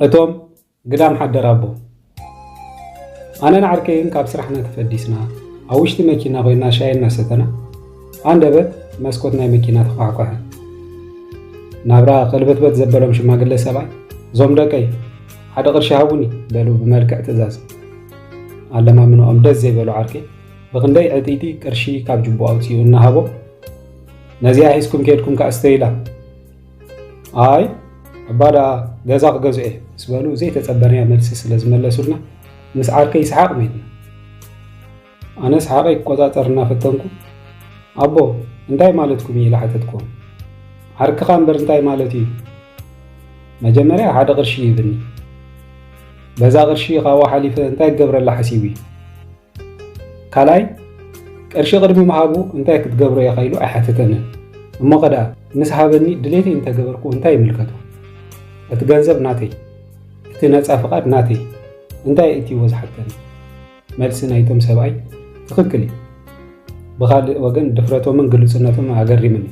እቶም ግዳም ሓደር ኣቦ ኣነን ዓርከይን ካብ ስራሕና ተፈዲስና ኣብ ውሽጢ መኪና ኮይና ሻይ እናሰተና ኣንደበት መስኮት ናይ መኪና ተኳዕኳዐ ናብራ ከልበትበት ዘበሎም ሽማግለ ሰብኣይ እዞም ደቀይ ሓደ ቅርሺ ሃቡኒ በሉ ብመልክዕ ትእዛዝ ኣለማምንኦም ደስ ዘይበሉ ዓርከይ ብክንደይ ዕጢጢ ቅርሺ ካብ ጅቦ ኣውፅኡ እናሃቦ ነዚኣ ሒዝኩም ከድኩም ከዓ ስተይላ ኣይ እባ ደኣ ገዛ ክገዝኦ እየ ምስ በሉ ዘይተጸበናዮ መልሲ ስለ ዝመለሱልና ምስ ዓርከይ ይስሓቕ መይትና ኣነ ስሓቐይ ክቆጻጸር እናፈተንኩ ኣቦ እንታይ ማለትኩም እዩ ኢለ ሓተትኩም ዓርክኻ እምበር እንታይ ማለት እዩ መጀመርያ ሓደ ቅርሺ ይብኒ በዛ ቅርሺ ካብኡ ሓሊፈ እንታይ ክገብረላ ሓሲቡ እዩ ካልኣይ ቅርሺ ቅድሚ ምሃቡ እንታይ ክትገብሮ ኢኻ ኢሉ ኣይሓተተንን እሞ ከዳ ምስ ሃበኒ ድሌተይ እንተገበርኩ እንታይ ይምልከቱ እቲ ገንዘብ ናተይ እቲ ነፃ ፍቓድ ናተይ እንታይ እትይዎ ዝሓተኒ መልሲ ናይቶም ሰብኣይ ትኽክል እዩ ብኻልእ ወገን ድፍረቶምን ግልፅነቶም ኣገሪምኒ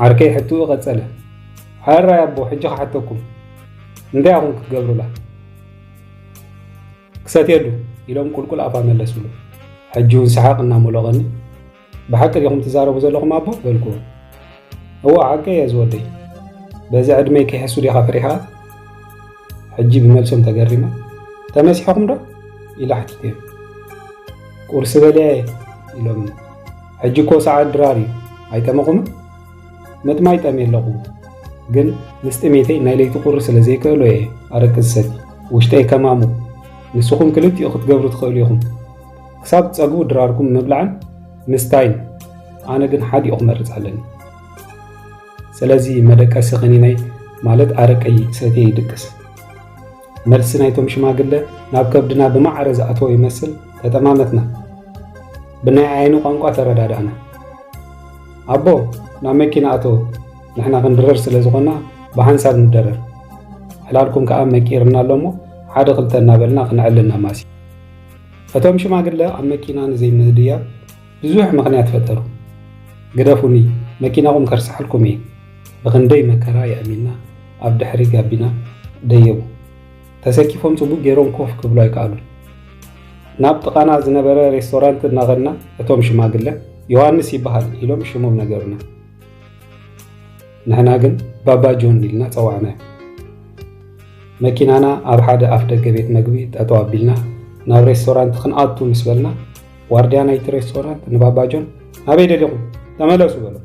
ዓርከይ ሕትኡ ቀፀለ ሓራይ ኣቦ ሕጂ ክሓተኩም እንታይ ኣኹም ክትገብሩላ ክሰትየሉ ኢሎም ቁልቁል ኣፋ መለስሉ። ሕጂ እውን ሰሓቕ እናሞሎቐኒ ብሓቂ ዲኹም ትዛረቡ ዘለኹም ኣቦ በልኩዎ። እዎ ሓቂ እየ ዝወደይ በዚ ዕድመይ ክሕሱ ዲኻ ፍሪሕኻ ሕጂ ብመልሶም ተገሪመ ተመሲሕኹም ዶ ኢለ ሓቲተዮም ቁርሲ በልዐ ኢሎምኒ ሕጂ እኮ ሰዓት ድራር እዩ ኣይጠመኹምን ምጥማይ ጠምየ ኣለኹ ግን ምስ ጥሜተይ ናይ ለይቲ ቁሪ ስለ ዘይክእሎ እየ ኣረቂ ዝሰቲ ውሽጠይ ከማሙ ንስኹም ክልቲኡ ክትገብሩ ትኽእሉ ኢኹም ክሳብ ትጸግቡ ድራርኩም ምብላዕን ምስታይን ኣነ ግን ሓዲኡ ክመርጽ ኣለኒ ስለዚ መደቀሲ ክኒነይ ማለት ኣረቀይ ሰትየ ይድቅስ መልሲ ናይቶም ሽማግለ ናብ ከብድና ብማዕረ ዝኣተወ ይመስል ተጠማመትና። ብናይ ዓይኒ ቋንቋ ተረዳዳእና። ኣቦ ናብ መኪና ኣተው፣ ንሕና ክንድረር ስለ ዝኾና ብሓንሳብ ንደረር፣ ዕላልኩም ከኣ መቂርና ኣሎ እሞ ሓደ ክልተ እናበልና ክንዕልል ነማሲ። እቶም ሽማግለ ኣብ መኪና ንዘይምህድያብ ብዙሕ ምኽንያት ፈጠሩ። ግደፉኒ መኪናኹም ከርስሓልኩም እየ። ብኽንደይ መከራ የእሚና ኣብ ድሕሪ ጋቢና ደየቡ። ተሰኪፎም ጽቡቕ ገይሮም ኮፍ ክብሉ ኣይከኣሉን። ናብ ጥቓና ዝነበረ ሬስቶራንት እናኸድና እቶም ሽማግለ ዮሃንስ ይበሃል ኢሎም ሽሞም ነገሩና። ንሕና ግን ባባ ጆን ኢልና ጸዋዕናዮ። መኪናና ኣብ ሓደ ኣፍ ደገ ቤት መግቢ ጠጠው ኣቢልና ናብ ሬስቶራንት ክንኣቱ ምስ በልና ዋርድያ ናይቲ ሬስቶራንት ንባባ ጆን ኣበይ ደሊኹም ተመለሱ በሎ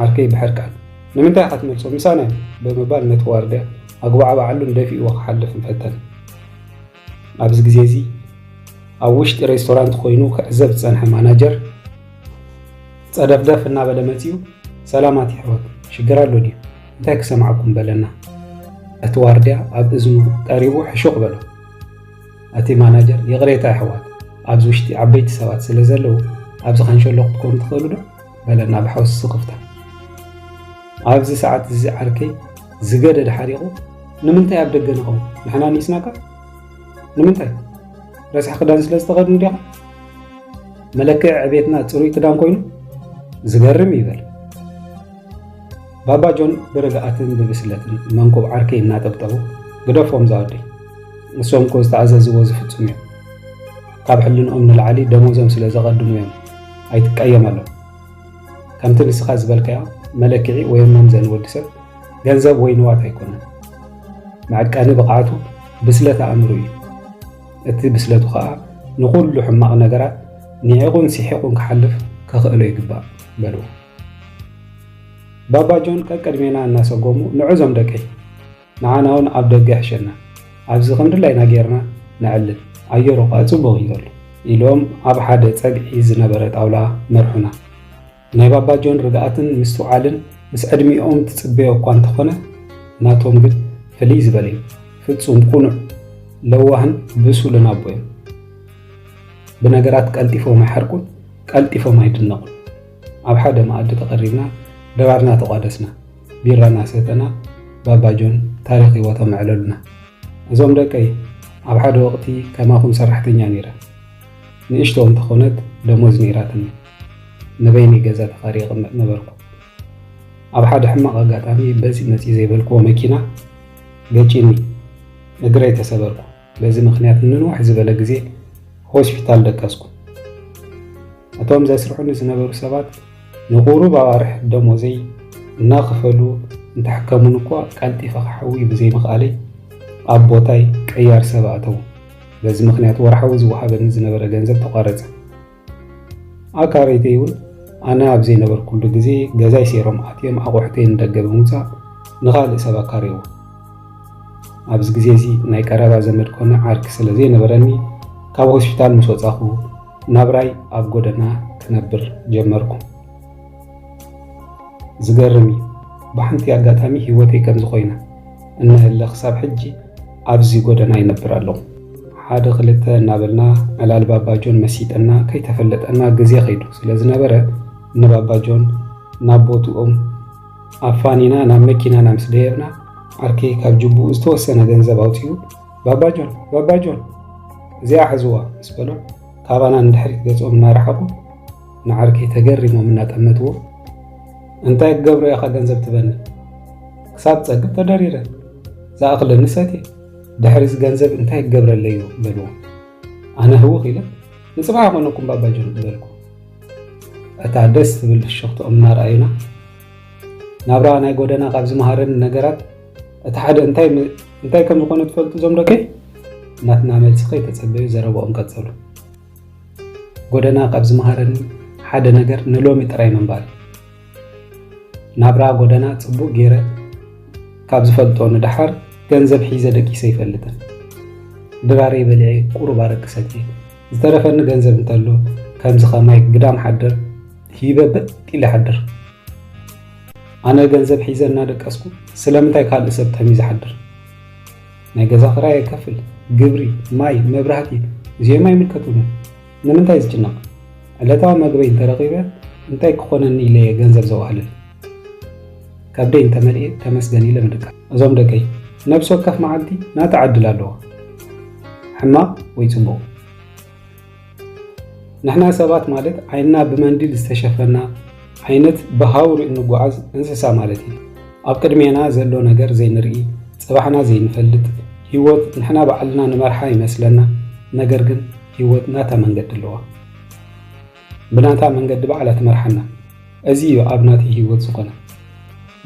ዓርከይ ብሕርቃን ንምንታይ ኢኻ ትመልሶ ምሳና እዩ ብምባል ነቲ ዋርድያ ኣጉባዕባዓሉን ደፊእዎ ክሓልፍን ፈተነ ኣብዚ ግዜ እዚ ኣብ ውሽጢ ሬስቶራንት ኮይኑ ክዕዘብ ዝፀንሐ ማናጀር ፀደፍደፍ እናበለ መፅኡ ሰላማት ይሕወት ሽግር ኣሎ ድዩ እንታይ ክሰማዕኩም በለና እቲ ዋርድያ ኣብ እዝኑ ቀሪቡ ሕሹቕ በሎ ኣቲ ማናጀር ይቕሬታ ኣሕዋት ኣብዚ ውሽጢ ዓበይቲ ሰባት ስለ ዘለዉ ኣብዚ ካንሸሎ ክትኮኑ ትኽእሉ ዶ በለና ብሓውሲ ስኽፍታ ኣብዚ ሰዓት እዚ ዓርከይ ዝገደደ ሓሪቑ ንምንታይ ኣብ ደገ ንኸውን ንሕና ኒስናካ ንምንታይ ረስሒ ክዳን ስለ ዝተኸድኑ ዲኻ መለክዒ ዕቤትና ፅሩይ ክዳን ኮይኑ ዝገርም ይበል ባባ ጆን ብርግኣትን ብብስለትን መንኩብ ዓርከይ እናጠብጠቡ ግደፎም ዛወደይ ንሶም እኮ ዝተኣዘዝዎ ዝፍፅሙ እዮም ካብ ሕልንኦም ንላዕሊ ደሞዞም ስለ ዘቐድሙ እዮም ኣይትቀየመሎም ከምቲ ንስኻ ዝበልካዮ መለክዒ ወይ መምዘኒ ወዲ ሰብ ገንዘብ ወይ ንዋት ኣይኮነን መዕቀኒ ብቕዓቱ ብስለት ኣእምሩ እዩ እቲ ብስለቱ ከዓ ንኩሉ ሕማቕ ነገራት ንዒቑን ሲሒቑን ክሓልፍ ከኽእሎ ይግባእ በልዎ ባባ ጆን ቀቅድሜና እናሰጎሙ ንዕዞም ደቀይ ንዓና እውን ኣብ ደገ ሕሸና ኣብዚ ከምድላይና ጌርና ንዕልል ኣየሩ ኸዓ ፅቡቕ እዩ ዘሎ ኢሎም ኣብ ሓደ ፀግዒ ዝነበረ ጣውላ መርሑና። ናይ ባባ ጆን ርግኣትን ምስትውዓልን ምስ ዕድሚኦም ትፅበዮ እኳ እንተኾነ ናቶም ግን ፍልይ ዝበለ እዩ። ፍፁም ቁኑዕ፣ ለዋህን ብሱልን ኣቦ እዮም። ብነገራት ቀልጢፎም ኣይሓርቁን፣ ቀልጢፎም ኣይድነቑን። ኣብ ሓደ መኣዲ ተቐሪብና ድራርና ተቋደስና፣ ቢራ እናሰተና ባባ ጆን ታሪኽ ህይወቶም ኣዕለሉና። እዞም ደቀይ ኣብ ሓደ ወቕቲ ከማኹም ሰራሕተኛ ነይረ። ንእሽቶ እንተኾነት ደሞዝ ነይራትኒ። ንበይነይ ገዛ ተኻርየ እቕመጥ ነበርኩ። ኣብ ሓደ ሕማቕ ኣጋጣሚ በፂ መፂ ዘይበልክዎ መኪና ገጪኒ እግረይ ተሰበርኩ። በዚ ምኽንያት ንንውሕ ዝበለ ግዜ ሆስፒታል ደቀስኩ። እቶም ዘስርሑኒ ዝነበሩ ሰባት ንቑሩብ ኣዋርሕ ደሞዘይ እናኸፈሉ እንተሕከሙኒ እኳ ቀልጢፈ ክሓውይ ብዘይምኽኣለይ ኣብ ቦታይ ቀያር ሰብ ኣእተዉ። በዚ ምኽንያት ወርሓዊ ዝወሃበኒ ዝነበረ ገንዘብ ተቋረጸ። ኣካረይተይ እውን ኣነ ኣብ ዘይነበርኩሉ ግዜ ገዛይ ሴሮም ኣትዮም ኣቑሑተይ ንደገ ብምውፃእ ንኻልእ ሰብ ኣካርይዎ ኣብዚ ግዜ እዚ ናይ ቀረባ ዘመድ ኮነ ዓርኪ ስለ ዘይነበረኒ ካብ ሆስፒታል ምስ ወፃኹ ናብራይ ኣብ ጎደና ክነብር ጀመርኩ ዝገርም እዩ ብሓንቲ ኣጋጣሚ ሂወተይ ከምዚ ኮይና እነሀለ ክሳብ ሕጂ ኣብዚ ጎደና ይነብር ኣለኹ። ሓደ ክልተ እናበልና ዕላል ባባጆን መሲጠና ከይተፈለጠና ግዜ ከይዱ ስለ ዝነበረ ንባባጆን ናብ ቦትኦም ኣፋኒና ናብ መኪናና ምስ ደየብና ዓርከይ ካብ ጅቡኡ ዝተወሰነ ገንዘብ ኣውፅኡ ባባጆን ባባጆን እዚኣ ሕዝዋ ምስ በሎም ካባና ንድሕሪት ገጾም እናረሓቁ ንዓርከይ ተገሪሞም እናጠመትዎ እንታይ ክገብሮ ኢኻ ገንዘብ ትበኒ ክሳብ ጸግብ ተደሪረ ዝኣኽለኒ ሰትየ ድሕሪ እዚ ገንዘብ እንታይ ክገብረለይ እዩ በልዎ ኣነ ህውኽ ኢለ ንፅባሕ ኣይኮነኩም ባባጆን ዝበልኩ እታ ደስ ትብል ፍሽኽትኦም እናረኣዩና ናብራ ናይ ጎደና ካብ ዝመሃረኒ ነገራት እቲ ሓደ እንታይ ከም ዝኾነ ትፈልጡ ዞም ደቀይ ናትና መልሲ ከይተፀበዩ ዘረብኦም ቀፀሉ ጎደና ካብ ዝመሃረኒ ሓደ ነገር ንሎሚ ጥራይ ምንባር ናብራ ጎደና ጽቡቕ ገይረ ካብ ዝፈልጦ ንደሓር ገንዘብ ሒዘ ደቂሰ ይፈልጥን ድራሬ በልዐ ቁሩብ ኣረቂ ሰትየ ዝተረፈኒ ገንዘብ እንተሎ ከምዚ ከማይ ግዳም ሓደር ሂበ በጥ ኢለ ሓድር ኣነ ገንዘብ ሒዘ እናደቀስኩ ስለምንታይ ካልእ ሰብ ተሚ ዝሓድር ናይ ገዛ ክራይ የከፍል፣ ግብሪ፣ ማይ፣ መብራህቲ እዚኦም ኣይምልከቱንን። ንምንታይ ዝጭነቕ? ዕለታዊ መግበይ እንተረኺበ እንታይ ክኾነኒ ኢለየ ገንዘብ ዘዋህልል? ከብደይ እንተመልኤ ተመስገን ኢለ ምድቃ። እዞም ደቀይ ነብሲ ወከፍ መዓልቲ ናታ ዕድል ኣለዎ፣ ሕማቕ ወይ ጽቡቕ። ንሕና ሰባት ማለት ዓይንና ብመንዲል ዝተሸፈና ዓይነት ብሃውሪ እንጓዓዝ እንስሳ ማለት እዩ። ኣብ ቅድሜና ዘሎ ነገር ዘይንርኢ፣ ጽባሕና ዘይንፈልጥ፣ ህይወት ንሕና ባዕልና ንመርሓ ይመስለና፣ ነገር ግን ህይወት ናታ መንገዲ ኣለዋ። ብናታ መንገዲ ባዕላ ትመርሓና። እዚ እዩ ኣብ ናተይ ህይወት ዝኾነ።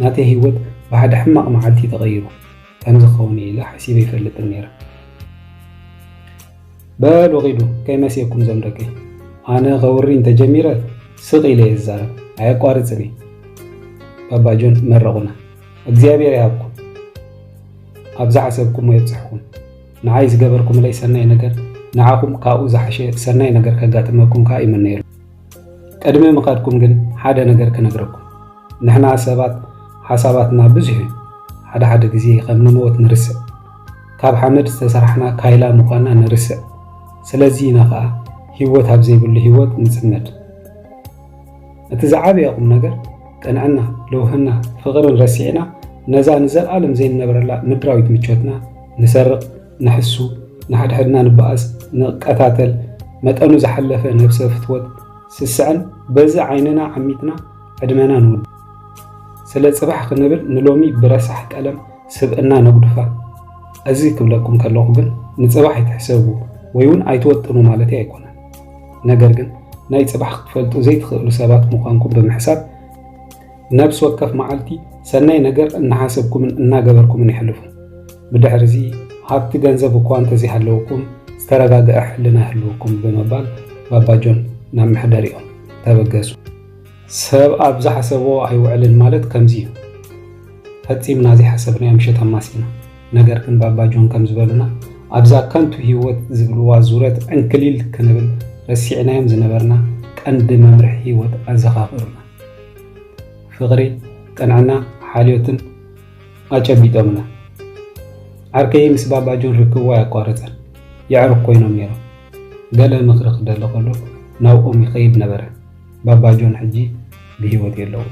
ናተይ ህይወት ብሓደ ሕማቕ መዓልቲ ተቐይሩ። ከምዚ ክኸውን ኢለ ሓሲበ ይፈልጥን ነይረ። በሉ ኺዱ ከይመሲየኩም ዞም ደቂ ኣነ ከውሪ እንተጀሚረ ስቕ ኢለ እየ ዝዛረብ ኣየቋርፅን እየ ባባጆን መረቑና እግዚኣብሔር ይሃብኩም ኣብ ዝሓሰብኩሞ የብፅሕኩም ንዓይ ዝገበርኩምለይ ሰናይ ነገር ንዓኹም ካብኡ ዝሓሸ ሰናይ ነገር ከጋጥመኩም ከዓ ይምነየሉ ቅድሚ ምኻድኩም ግን ሓደ ነገር ክነግረኩም ንሕና ሰባት ሓሳባትና ብዙሕ እዩ ሓደ ሓደ ግዜ ከም ንመወት ንርስዕ ካብ ሓመድ ዝተሰራሕና ካይላ ምዃና ንርስዕ ስለዚ ኢና ከዓ ህይወት ኣብ ዘይብሉ ህይወት ንፅመድ እቲ ዝዓበየ ቁም ነገር ቅንዕና ልውህና ፍቕርን ረሲዕና ነዛ ንዘለኣለም ዘይንነብረላ ምድራዊት ምቾትና ንሰርቕ ንሕሱ፣ ንሓድሕድና ንበኣስ፣ ንቀታተል፣ መጠኑ ዝሓለፈ ነብሰ ፍትወት ስስዐን በዚ ዓይንና ዓሚትና ዕድመና ንውድእ። ስለ ጽባሕ ክንብል ንሎሚ ብረሳሕ ቀለም ስብእና ነጉድፋ። እዚ ክብለኩም ከለኹ ግን ንጽባሕ ኣይትሕሰቡ ወይውን ኣይትወጥኑ ማለተይ ኣይኮነን። ነገር ግን ናይ ጽባሕ ክትፈልጡ ዘይትኽእሉ ሰባት ምዃንኩም ብምሕሳብ ነብሲ ወከፍ መዓልቲ ሰናይ ነገር እናሓሰብኩምን እናገበርኩምን የሕልፉ። ብድሕሪዚ ሃብቲ ገንዘብ እኳ እንተዘይሃለወኩም ዝተረጋገዐ ሕልና ይህልወኩም ብምባል ባባ ጆን ናብ መሕደሪኦም ተበገሱ። ሰብ ኣብ ዝሓሰቦ ኣይውዕልን ማለት ከምዚ እዩ። ፈጺምና ዘይሓሰብናዮ ምሸት ኣማሲና። ነገር ግን ባባ ጆን ከም ዝበሉና ኣብዛ ከንቱ ህይወት ዝብልዋ ዙረት ዕንክሊል ክንብል ረሲዕናዮም ዝነበርና ቀንዲ መምርሒ ህይወት ኣዘኻኽሩና። ፍቕሪ፣ ቅንዕና፣ ሓልዮትን ኣጨቢጦምና። ዓርከይ ምስ ባባ ጆን ርክቡ ኣየቋረጸን። የዕሩኽ ኮይኖም ነይሮም። ገለ ምኽሪ ክደሊ ከሎ ናብኦም ይኸይድ ነበረ። ባባ ጆን ሕጂ ብህይወት የለውን።